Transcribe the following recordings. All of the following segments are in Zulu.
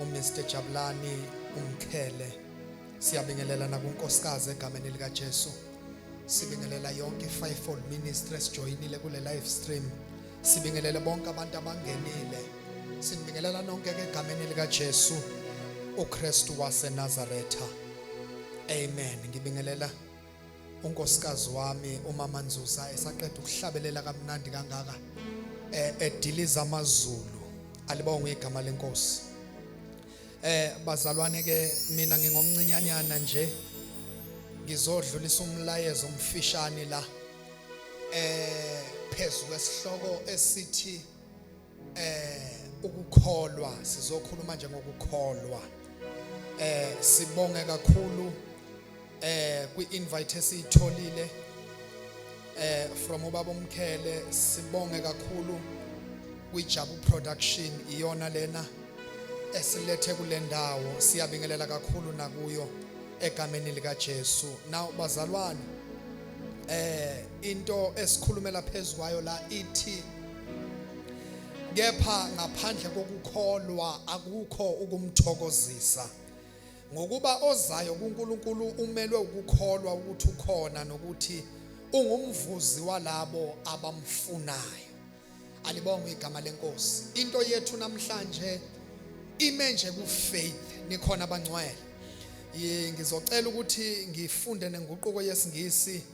uMr Jabulani umkhele siyabingelela nakunkosikazi egameni lika Jesu sibingelela yonke fivefold ministry esijoyinile kule live stream sibingelele bonke abantu abangenile sinibingelela nonke ke egameni lika Jesu uKristu waseNazaretha amen ngibingelela unkosikazi wami umama Nzuza esaqeda ukuhlabelela kamnandi kangaka eh ediliza amazulu alibonga igama lenkosi eh bazalwane ke mina ngingomncinyanyana nje ngizodlulisa umlayezo omfishane la eh phezu kwesihloko esithi eh ukukholwa sizokhuluma nje ngokukholwa eh sibonge kakhulu eh kwi-invite esiyitholile eh from ubaba umkhele sibonge kakhulu kwijabu production iyona lena esilethe kule ndawo siyabingelela kakhulu nakuyo egameni likaJesu now bazalwane eh into esikhulumela phezukwayo la ithi kepha ngaphandle kokukholwa akukho ukumthokozisa ngokuba ozayo kuNkulunkulu umelwe ukukholwa ukuthi ukhona nokuthi ungumvuzi walabo abamfunayo alibonga igama lenkosi into yethu namhlanje ime nje ku faith nikhona abangcwele ngizocela ukuthi ngifunde nenguquko yesingisi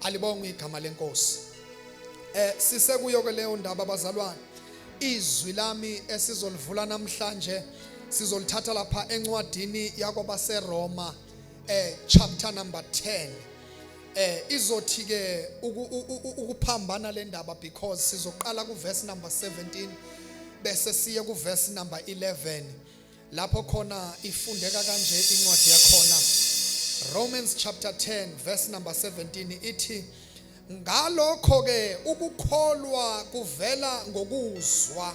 alibongwe igama lenkosi eh sisekuyo ke leyo ndaba bazalwane izwi lami esizolivula namhlanje sizolithatha lapha encwadini yakwabaseroma eh chapter number 10 eh izothi ke ukuphambana le ndaba because sizoqala ku verse number 17 bese siye ku verse number 11 lapho khona ifundeka kanje incwadi yakhona Romans chapter 10 verse number 17 ithi ngalokho ke ukukholwa kuvela ngokuzwa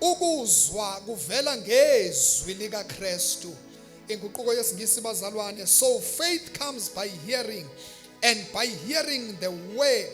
ukuzwa kuvela ngezwi lika Kristu inguquko yesingisi bazalwane so faith comes by hearing and by hearing the word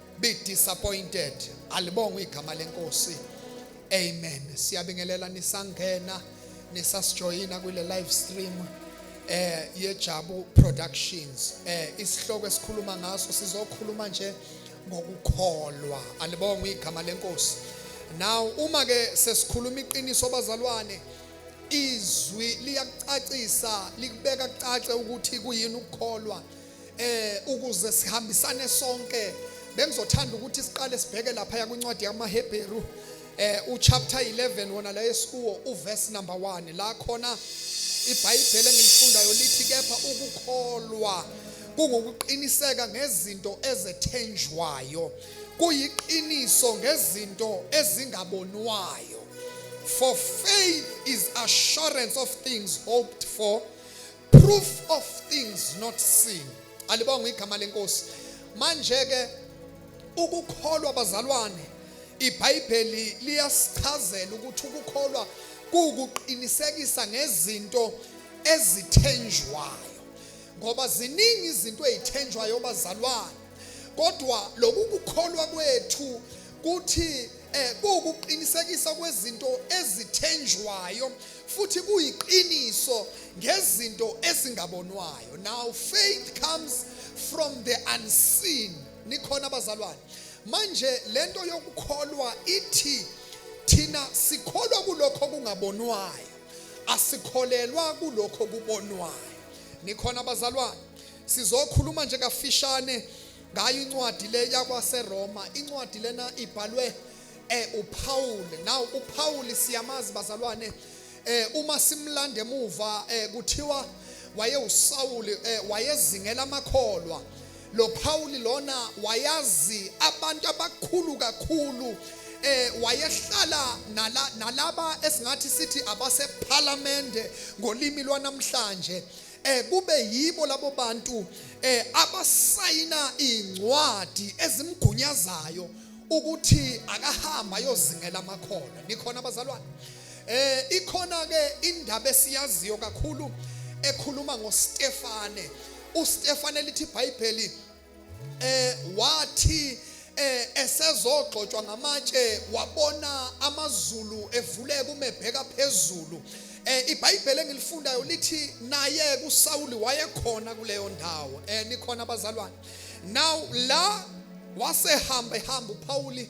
be disappointed alibongwe igama lenkosi amen siyabingelela nisangena nisasijoyina kule live stream eh yejabu productions eh isihloko esikhuluma ngaso sizokhuluma nje ngokukholwa alibonga igama lenkosi now uma ke sesikhuluma iqiniso bazalwane izwi liyakucacisa likubeka kucace ukuthi kuyini ukukholwa eh ukuze sihambisane sonke bengizothanda ukuthi siqale sibheke lapha ya kwincwadi yamaHebheru eh uchapter 11 wona la esikuwo uverse number 1 la khona iBhayibheli engilifundayo lithi kepha ukukholwa kungukuqiniseka ngezinto ezethenjwayo kuyiqiniso ngezinto ezingabonwayo for faith is assurance of things hoped for proof of things not seen alibonga igama lenkosi manje ke ukukholwa bazalwane ibhayibheli liyasichazela ukuthi ukukholwa kuwukuqinisekisa ngezinto ezithenjwayo ngoba ziningi izinto ezithenjwayo bazalwane kodwa lokukukholwa kwethu kuthi eh kuwukuqinisekisa kwezinto ezithenjwayo futhi kuyiqiniso ngezinto ezingabonwayo now faith comes from the unseen nikhona abazalwane manje lento yokukholwa ithi thina sikholwa kulokho kungabonwayo asikholelwa kulokho kubonwayo nikhona abazalwane sizokhuluma nje kafishane ngayo incwadi le yakwaseroma incwadi lena ibhalwe eh uPaul now uPaul siyamazi bazalwane eh uma simlanda emuva eh kuthiwa wayewuSawuli eh wayezingela amakholwa lo Paul lona wayazi abantu abakhulu kakhulu eh wayehlala nala nalaba esingathi sithi abase parliament ngolimi lwanamhlanje eh kube yibo labo bantu eh abasayina incwadi ezimgunyazayo ukuthi akahamba ayozingela amakhona nikhona abazalwane eh ikhona ke indaba esiyaziyo kakhulu ekhuluma ngoStefane uStefane lithi iBhayibheli eh wathi eh esezogxotshwa ngamatshe wabona amazulu evuleka umebheka phezulu eh iBhayibheli engilifundayo lithi naye kuSawuli wayekhona kuleyo ndawo eh nikhona abazalwane now la wasehamba ehamba uPawuli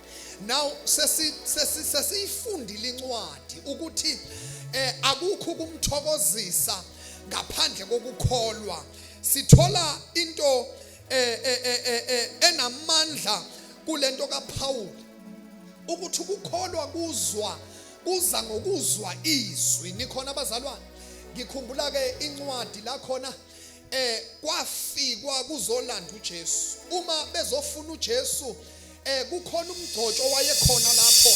now sesi sesi sesiyifundile incwadi ukuthi eh akukho kumthokozisa ngaphandle kokukholwa sithola into eh, eh, eh, eh enamandla kulento kaPaul ukuthi ukukholwa kuzwa kuza ngokuzwa izwi nikhona abazalwane ngikhumbula ke incwadi la khona eh kwafikwa kuzolanda uJesu uma bezofuna uJesu eh kukhona umgcotsho wayekhona lapho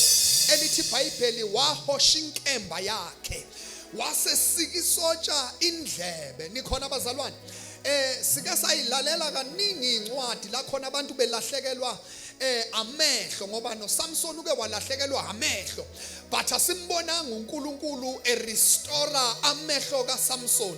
elithi iBhayibheli wahosha inkemba yakhe wasesika isotsha indlebe nikhona abazalwane eh sike sayilalela kaningi incwadi la khona abantu belahlekelwa eh amehlo ngoba noSamson uke walahlekelwa amehlo but asimbonanga uNkulunkulu e restore amehlo kaSamson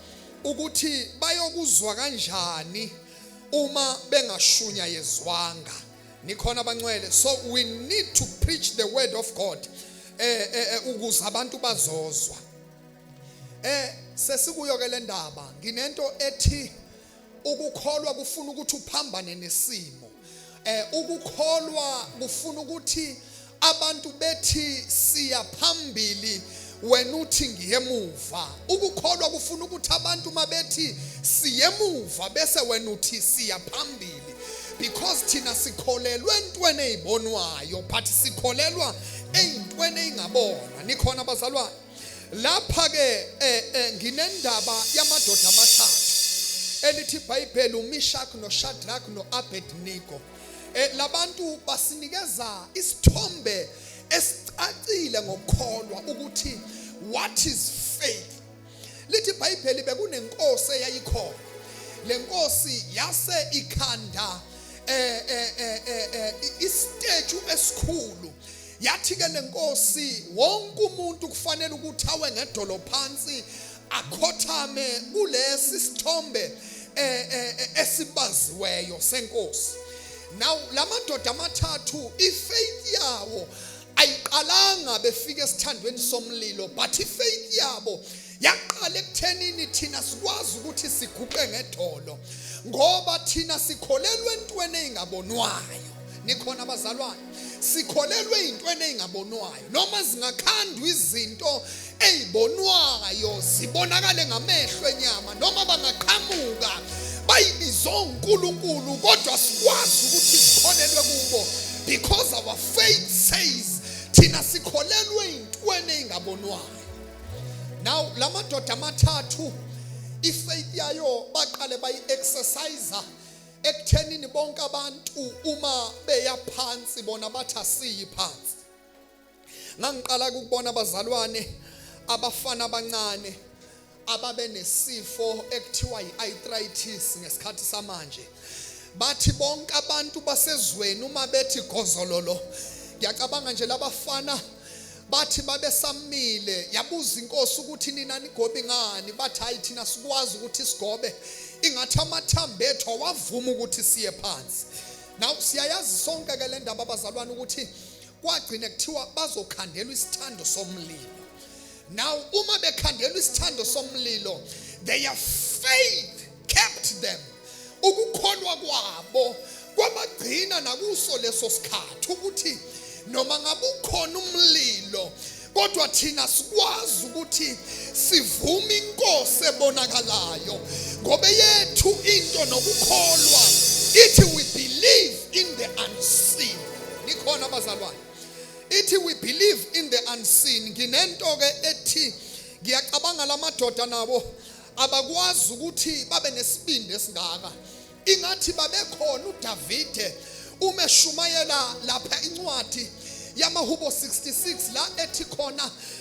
ukuthi bayokuzwa kanjani uma bengashunyayezwanga nikhona abancwele so we need to preach the word of God eh, eh, eh ukuze abantu bazozwa eh sesikuyo ke le ndaba nginento ethi ukukholwa kufuna ukuthi uphambane nesimo eh ukukholwa kufuna ukuthi abantu bethi siya phambili wena uthi ngiyemuva ukukholwa kufuna ukuthi abantu mabethi siyemuva bese wena uthi siya phambili because thina sikholelwe entweni ezibonwayo but sikholelwa eyintweni ezingabonwa nikhona bazalwane lapha ke eh, eh, nginendaba yamadoda amathathu elithi iBhayibheli uMishak noShadrach noAbednego eh, labantu basinikeza isithombe esicacile ngokukholwa ukuthi what is faith lithi iBhayibheli bekunenkosi eyayikhona lenkosi yase ikhanda eh eh eh, eh, eh isiteju esikhulu yathi ke lenkosi wonke umuntu kufanele ukuthi awe ngedolo phansi akhothame kulesi sithombe eh, eh, eh, esibaziweyo senkosi now lamadoda amathathu ifaith yawo ayiqalanga befika esithandweni somlilo but ifaith yabo yaqala ekuthenini thina sikwazi ukuthi siguqe ngedolo ngoba thina sikholelwa entweni engabonwayo nikhona abazalwane sikholelwe ezintweni ezingabonwayo noma zingakhandwa izinto ezibonwayo zibonakale ngamehlo enyama noma bangaqhamuka bayibiza uNkulunkulu kodwa sikwazi ukuthi sikholelwe kubo because our faith says thina sikholelwe ezintweni ezingabonwayo now la madoda amathathu ifaith yayo baqale bayi-exerciser ekuthenini bonke abantu uma beya phansi bona bathi asiyi phansi ngangiqala ukubona abazalwane abafana abancane ababenesifo ekuthiwa yi-arthritis ngesikhathi samanje bathi bonke abantu basezweni uma bethi gozololo ngiyacabanga nje labafana bathi babesamile yabuza inkosi ukuthi nina nigobe ngani bathi hayi thina sikwazi ukuthi sigobe ingathi amathambo ethu awavuma ukuthi siye phansi now siyayazi sonke ke le ndaba abazalwane ukuthi kwagcine kuthiwa bazokhandelwa isithando somlilo Now uma bekhandelwa isithando somlilo their faith kept them ukukholwa kwabo kwabagcina nakuso leso sikhathi ukuthi noma ngabe ukhona umlilo kodwa thina sikwazi ukuthi sivume inkosi ebonakalayo ngoba yethu into nokukholwa ithi we believe in the unseen nikhona abazalwane ithi we believe in the unseen nginento ke ethi ngiyacabanga lamadoda nabo abakwazi ukuthi babe nesibindi esingaka ingathi babekhona uDavide uma eshumayela lapha incwadi yamahubo 66 la ethi khona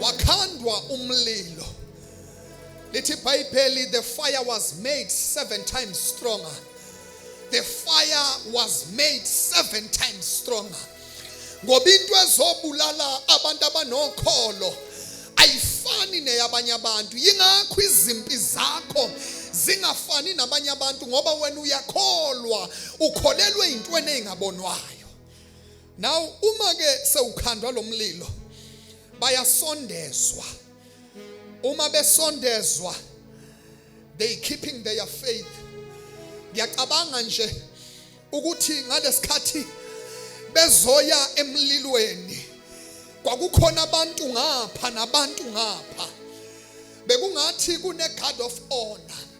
wakhandwa umlilo lithi ibhayibheli the fire was made seven times stronger the fire was made seven times stronger ngoba into ezobulala abantu abanokholo ayifani neyabanye abantu yingakho izimpi zakho zingafani nabanye abantu ngoba wena uyakholwa ukholelwe into eningabonwayo now uma ke sewukhandwa lomlilo bayasondezwa uma besondezwa they keeping their faith ngiyacabanga nje ukuthi ngalesikhathi bezoya emlilweni kwakukhona abantu ngapha nabantu ngapha bekungathi kune guard of honor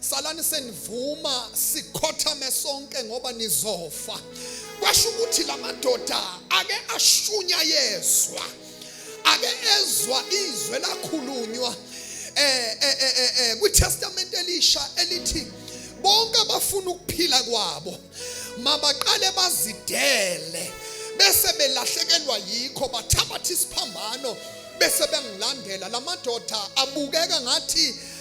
salani senivuma sikhothame sonke ngoba nizofa kwasho ukuthi la madoda ake ashunya yezwa ake ezwa izwe lakhulunywa eh eh eh, eh, eh kwiTestament elisha elithi bonke abafuna ukuphila kwabo mabaqale bazidele bese belahlekelwa yikho bathabatha isiphambano bese bengilandela lamadoda abukeka ngathi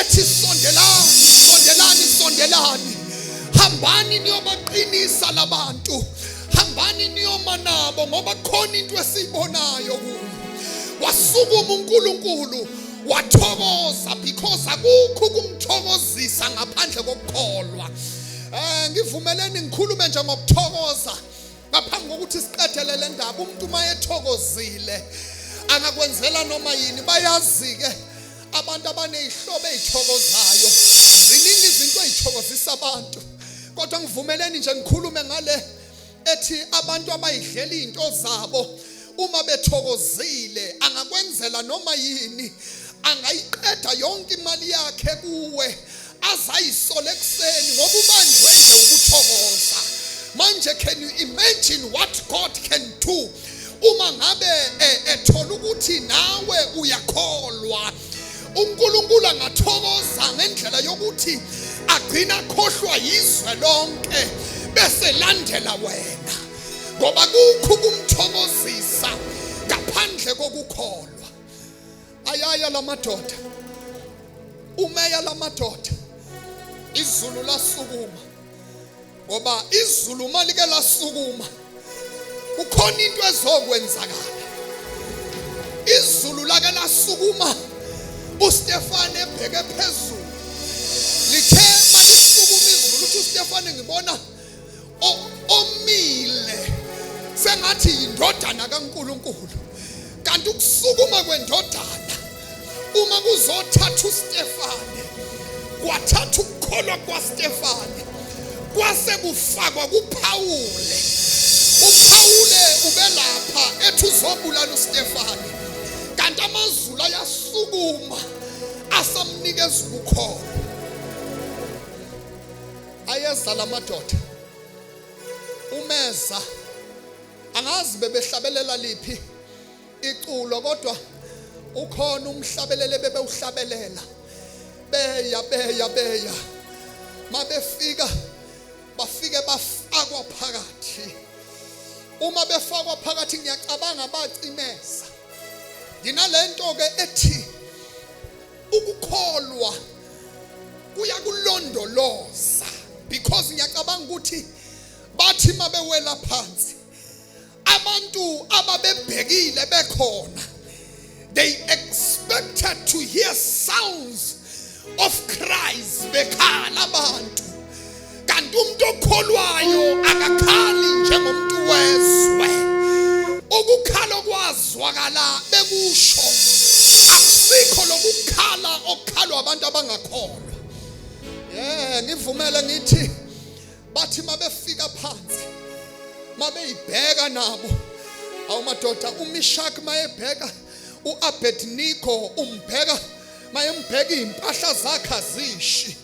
ethi sondelani sondelani sondelani hambani niyobaqinisa labantu hambani niyoma nabo ngoba khona into esiyibonayo kuyo wasukuma uNkulunkulu wathokoza because akukho ukumthokozisa ngaphandle kokukholwa eh ngivumeleni ngikhulume nje ngokuthokoza ngaphambi kokuthi siqedele le ndaba umuntu uma ethokozile angakwenzela noma yini bayazi-ke abantu abanezihlobo ezithokozayo ziningi izinto ezithokozisa abantu kodwa ngivumeleni nje ngikhulume ngale ethi abantu abayidlela izinto zabo uma bethokozile angakwenzela noma yini angayiqeda yonke imali yakhe kuwe azayisole ekuseni ngoba ubanjwe nje ukuthokoza manje can you imagine what God can do uma ngabe eh, ethola ukuthi nawe uyakholwa uNkulunkulu angathokoza ngendlela yokuthi agcina khohlwa yizwe lonke bese landela wena ngoba kukho ukumthokozisa ngaphandle kokukholwa ayaya la madoda umeya la madoda izulu lasukuma ngoba izulu uma like lasukuma kukhona into ezokwenzakala izulu lake lasukuma uStefane ebheke phezulu lithe malisukuma izulu uthi uStefane ngibona omile sengathi yindodana kaNkuluNkulu kanti ukusukuma kwendodana uma kuzothatha uStefane kwathatha ukukholwa kwaStefane kwase kufakwa kuPhawule uPhawule ubelapha ethi uzobulala uStefane kanti amazulu ayasukuma asamnikeza ubukhona ayeza lamadoda umeza angazi bebehlabelela liphi iculo kodwa ukhona umhlabelele bebewuhlabelela beya beya beya mabefika bafike bafakwa phakathi uma befakwa phakathi ngiyacabanga bacimeza nginalento ke ethi ukukholwa kuyakulondoloza because ngiyacabanga ukuthi bathi mabewela phansi abantu ababebhekile bekhona they expected to hear sounds of cries bekhala abantu kanti umuntu okholwayo akakhali njengomuntu wezwe ukukhala okwazwakala bekusho akusikho lokukhala okukhalwa abantu abangakholwa eh ngivumele ngithi bathi mabefika phansi mabeyibheka nabo awumadoda umishak mayebheka uAbednego umbheka mayembheka impahla zakhe azishi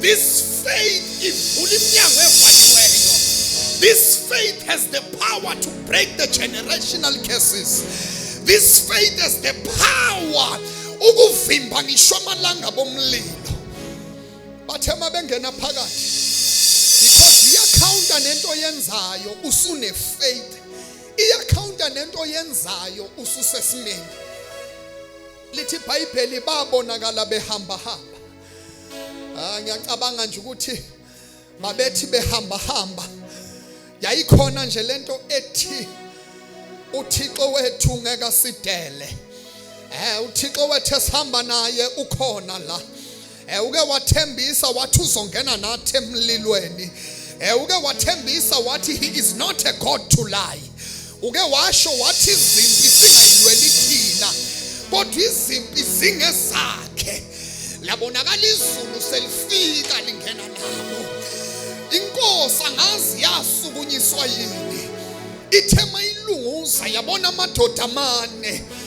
This faith ivula iminyango evaliweyo. This faith has the power to break the generational curses. This faith has the power ukuvimba ngisho amalanga bomlilo. Bathe uma bengena phakathi because iyakhawunta nento yenzayo usune faith. Iyakhawunta nento yenzayo ususesimeni. Lithi iBhayibheli babonakala behamba hamba ah, ngiyacabanga nje ukuthi mabethi behamba hamba yayikhona nje lento ethi uThixo wethu ngeke sidele eh uThixo wethu esihamba naye ukhona la eh uke wathembisa wathi uzongena nathi emlilweni eh uke wathembisa wathi he is not a god to lie Uke washo wathi izimpi zingayilweli thina kodwa izimpi zingezakhe. Labonakala izulu selifika lingena nabo. Inkosi angazi yasukunyiswa yini. Ithe mayilunguza yabona amadoda amane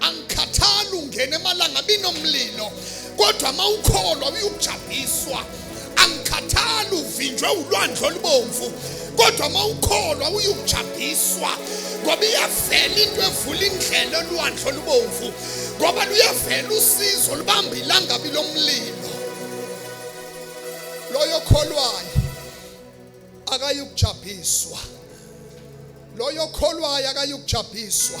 angikhathali ungena emalanga binomlilo kodwa uma ukholwa uyukujabhiswa angikhathali uvinjwe ulwandle olubomvu kodwa uma ukholwa uyukujabhiswa ngoba iyavela into evula indlela olwandle olubomvu ngoba luyavela usizo lubamba ilangabi lomlilo loyo kholwayo akayukujabhiswa loyo kholwayo akayukujabhiswa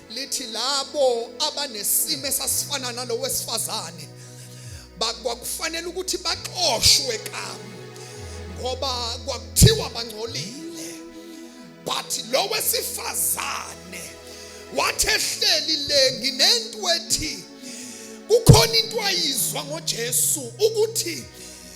lithi labo abanesimo esasifana nalowo wesifazane kwakufanele ukuthi baxoshwe kamu ngoba kwakuthiwa bangcolile but lo wesifazane wathi ehleli le nginento ethi kukhona into ayizwa ngoJesu ukuthi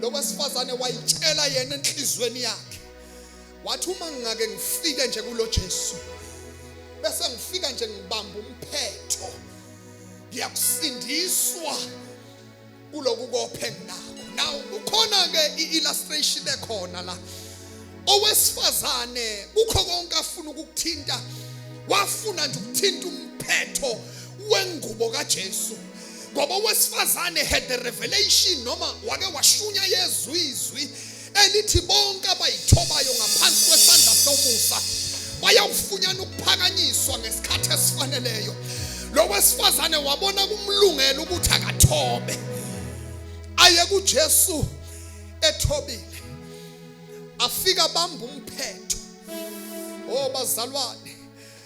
lo wesifazane wayitshela yena enhlizweni yakhe wathi uma ngingake ngifike nje kulo Jesu bese ngifika nje ngibamba umphetho ngiyakusindiswa kuloku kophe nginako now kukhona ke iillustration ekhona la owesifazane kukho konke afuna ukukuthinta wafuna nje ukuthinta umphetho wengubo kaJesu ngoba owesifazane had the revelation noma wake washunya yezwa izwi elithi bonke abayithobayo ngaphansi kwesandla somusa bayawufunyana ukuphakanyiswa ngesikhathi esifaneleyo lo wesifazane wabona kumlungela ukuthi akathobe aye kuJesu ethobile afika bamba umphetho oh bazalwane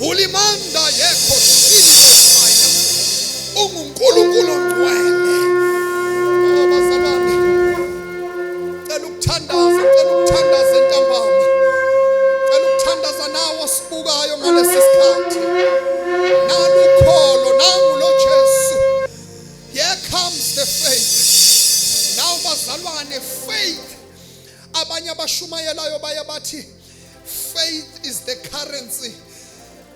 ulimanda yekho silikhaya ungunkulunkulu ongcwele bazalwane cela ukuthandaza cela ukuthandaza entambama cela ukuthandaza nawo sibukayo ngalesi sikhathi nalukholo nangu lo Jesu here comes the faith now bazalwane faith abanye abashumayelayo baye bathi Faith is the currency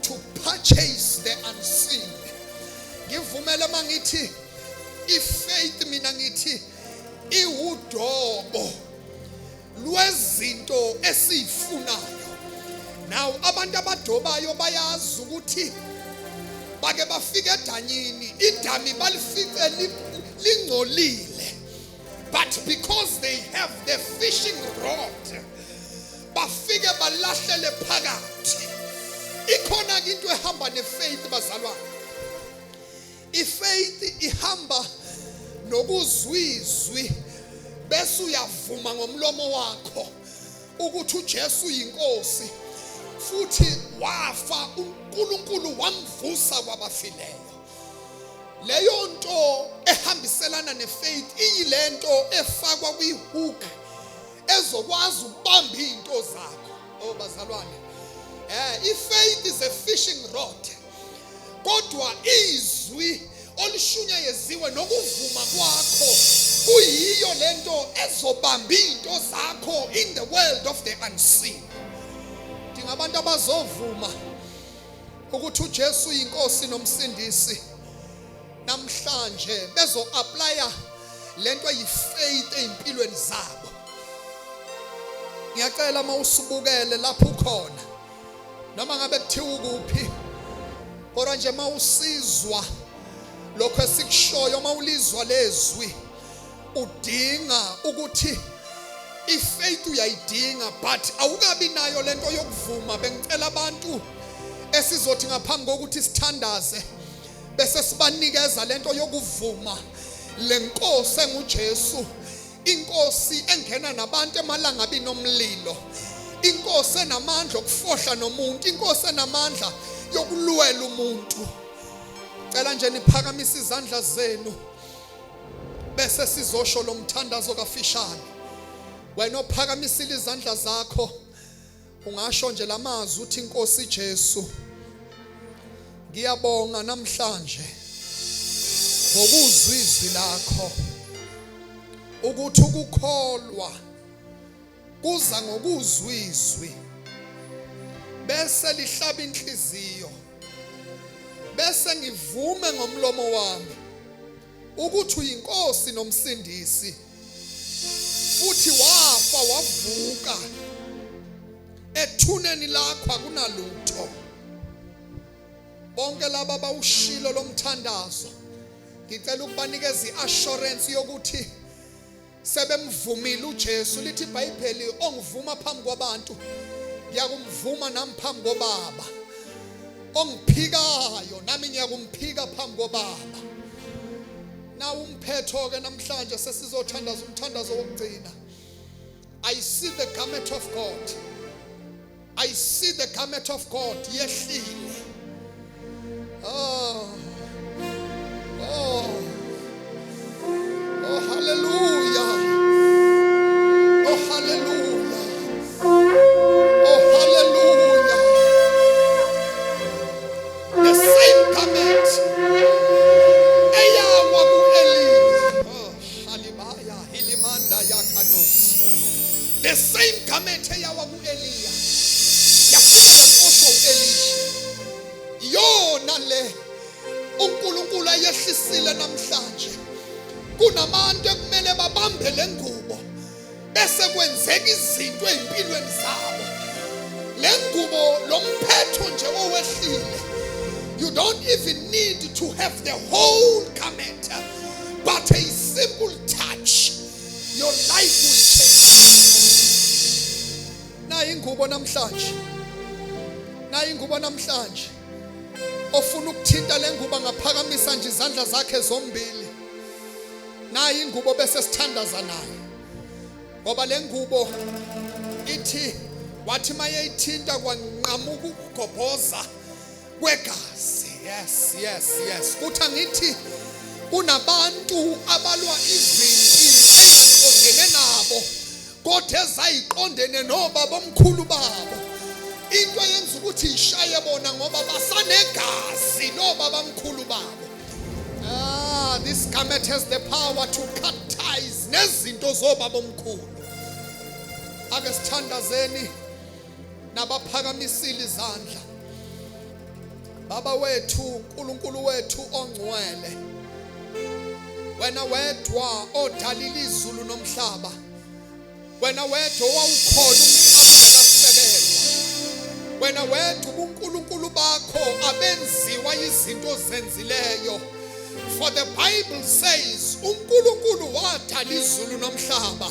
to purchase the unseen. Ngivumela mangithi ifaith mina ngithi iwudobo lwezinto esifunayo. Now abantu abadobayo bayazi ukuthi bake bafike edanyini idami balifice lingcolile But because they have the fishing rod, bafike balahlele phakathi. Ikhona ke into ehamba nefaith bazalwane. Ifaith ihamba nokuzwizwi bese uyavuma ngomlomo wakho ukuthi uJesu uyinkosi futhi wafa uNkulunkulu wamvusa kwabafileyo leyo nto ehambiselana nefaith iyilento efakwa kwihook ezokwazi ukubamba izinto zakho oh bazalwane eh ifaith is a fishing rod kodwa izwi olushunyayezizwe nokuvuma kwakho kuyiyo lento ezobamba izinto zakho in the world of the unseen dinga abantu abazovuma ukuthi uJesu yinkosi nomsindisi namhlanje bezo applya lento eyifaith ezimpilweni zabo ngiyacela uma usubukele lapho ukhona noma ngabe kuthiwa ukuphi kodwa nje uma usizwa lokho esikushoyo uma ulizwa lezwi udinga ukuthi ifaith uyayidinga but awukabi nayo lento yokuvuma bengicela abantu esizothi ngaphambi kokuthi sithandaze bese sibanikeza lento yokuvuma lenkosi enguJesu inkosi engena nabantu emalangabini omlilo inkosi enamandla okufohla nomuntu inkosi enamandla yokulwela umuntu cela nje niphakamise izandla zenu bese sizosho lo mthandazo kafishane wena ophakamisile izandla zakho ungasho nje lamazwi uthi inkosi Jesu ngiyabonga namhlanje ngokuzwizwi lakho ukuthi ukukholwa Kuza ngokuzwa izwi bese lihlaba inhliziyo bese ngivume ngomlomo wami ukuthi uyinkosi nomsindisi futhi wafa wavuka ethuneni lakho akunalutho bonke laba abawushilo lomthandazo ngicela ukubanikeza iassurance yokuthi sebemvumile uJesu lithi iBhayibheli ongivuma phambi kwabantu ngiyakumvuma nami phambi kobaba ongiphikayo nami ngiyakumphika phambi kobaba nawu umphetho ke namhlanje sesizothandaza umthandazo wokugcina i see the garment of god I see the garment of God yehlile. Oh. Oh. Oh hallelujah. Oh hallelujah. Oh hallelujah. The same garment. Eyawa ku Elia. Oh Shalimaya Hilimanda Yakados. The same garment eyawa Eliya yakuxosha uElisha iyona le uNkulunkulu ayehlisile namhlanje kunabantu ekumele babambe lengubo bese kwenzeka izinto ezimpilweni zabo lengubo lomphetho nje owehlile you don't even need to have the whole garment but a simple Your life will change. Nayi ingubo namhlanje. Nayi ingubo namhlanje. Ofuna ukuthinta lengubo ngaphakamisa nje izandla zakhe zombili. Nayi ingubo bese sithandaza naye. Ngoba lengubo ithi wathi mayeyithinta kwanqamuka ukugobhoza kwegazi yes yes yes futhi angithi kunabantu abalwa izimpi ezingaqondene nabo kodwa ezayiqondene nobaba omkhulu babo into eyenza ukuthi ishaye bona ngoba basanegazi nobaba omkhulu babo ah this garment has the power to cut ties nezinto zobaba omkhulu ake sithandazeni nabaphakamisile izandla Baba wethu uNkulunkulu wethu ongcwele wena wedwa odalile izulu nomhlaba wena wedwa owawukhona umhlaba ngasibekelwa wena wedwa ubuNkulunkulu bakho abenziwa izinto zenzileyo for the bible says uNkulunkulu wadala izulu nomhlaba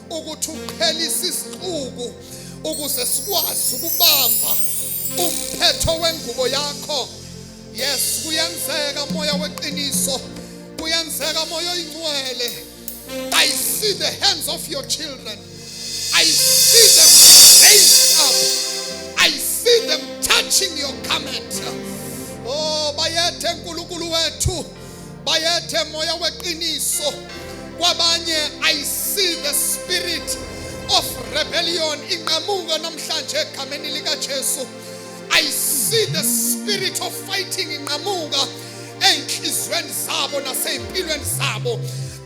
ukuthi uqhelise isixuku ukuze sikwazi ukubamba umphetho wengubo yakho yes kuyenzeka moya weqiniso kuyenzeka moya oyingcwele i see the hands of your children i see them raised up i see them touching your garment oh bayethe nkulunkulu wethu bayethe moya weqiniso kwabanye i see the spirit of rebellion inqamuka namhlanje egameni likaJesu i see the spirit of fighting inqamuka ezinhlizweni zabo nasezimpilweni zabo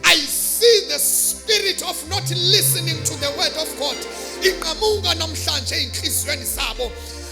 i see the spirit of not listening to the word of god inqamuka namhlanje ezinhlizweni zabo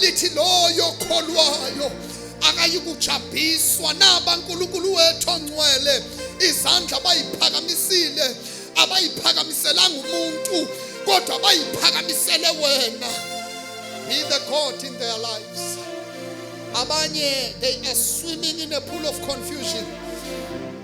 lithi loyo kholwayo akayikujabhiswa naba nkulunkulu wethu ongcwele izandla bayiphakamisile abayiphakamiselanga umuntu kodwa bayiphakamisele wena be the god in their lives abanye they are swimming in a pool of confusion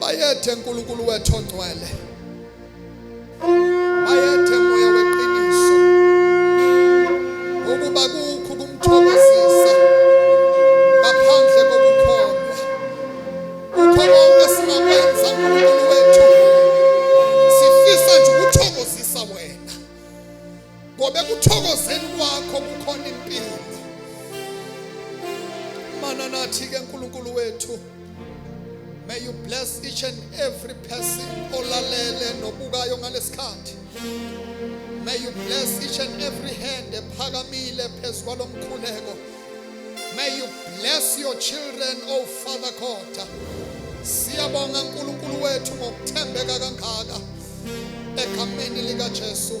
bayethe uNkulunkulu wethu ongcwele bayethe moya weqiniso ukuba kukho kumthokozisa ngaphandle kokukholwa kukho konke singakwenza uNkulunkulu wethu sifisa nje ukuthokozisa wena ngoba ekuthokozeni kwakho kukhona impilo mana nathi ke nkulunkulu wethu may you bless each and every person olalele nobukayo ngalesikhathi may you bless each and every hand ephakamile phezu kwalomkhuleko may you bless your children oh father god siyabonga nkulunkulu wethu ngokuthembeka kangaka egameni likajesu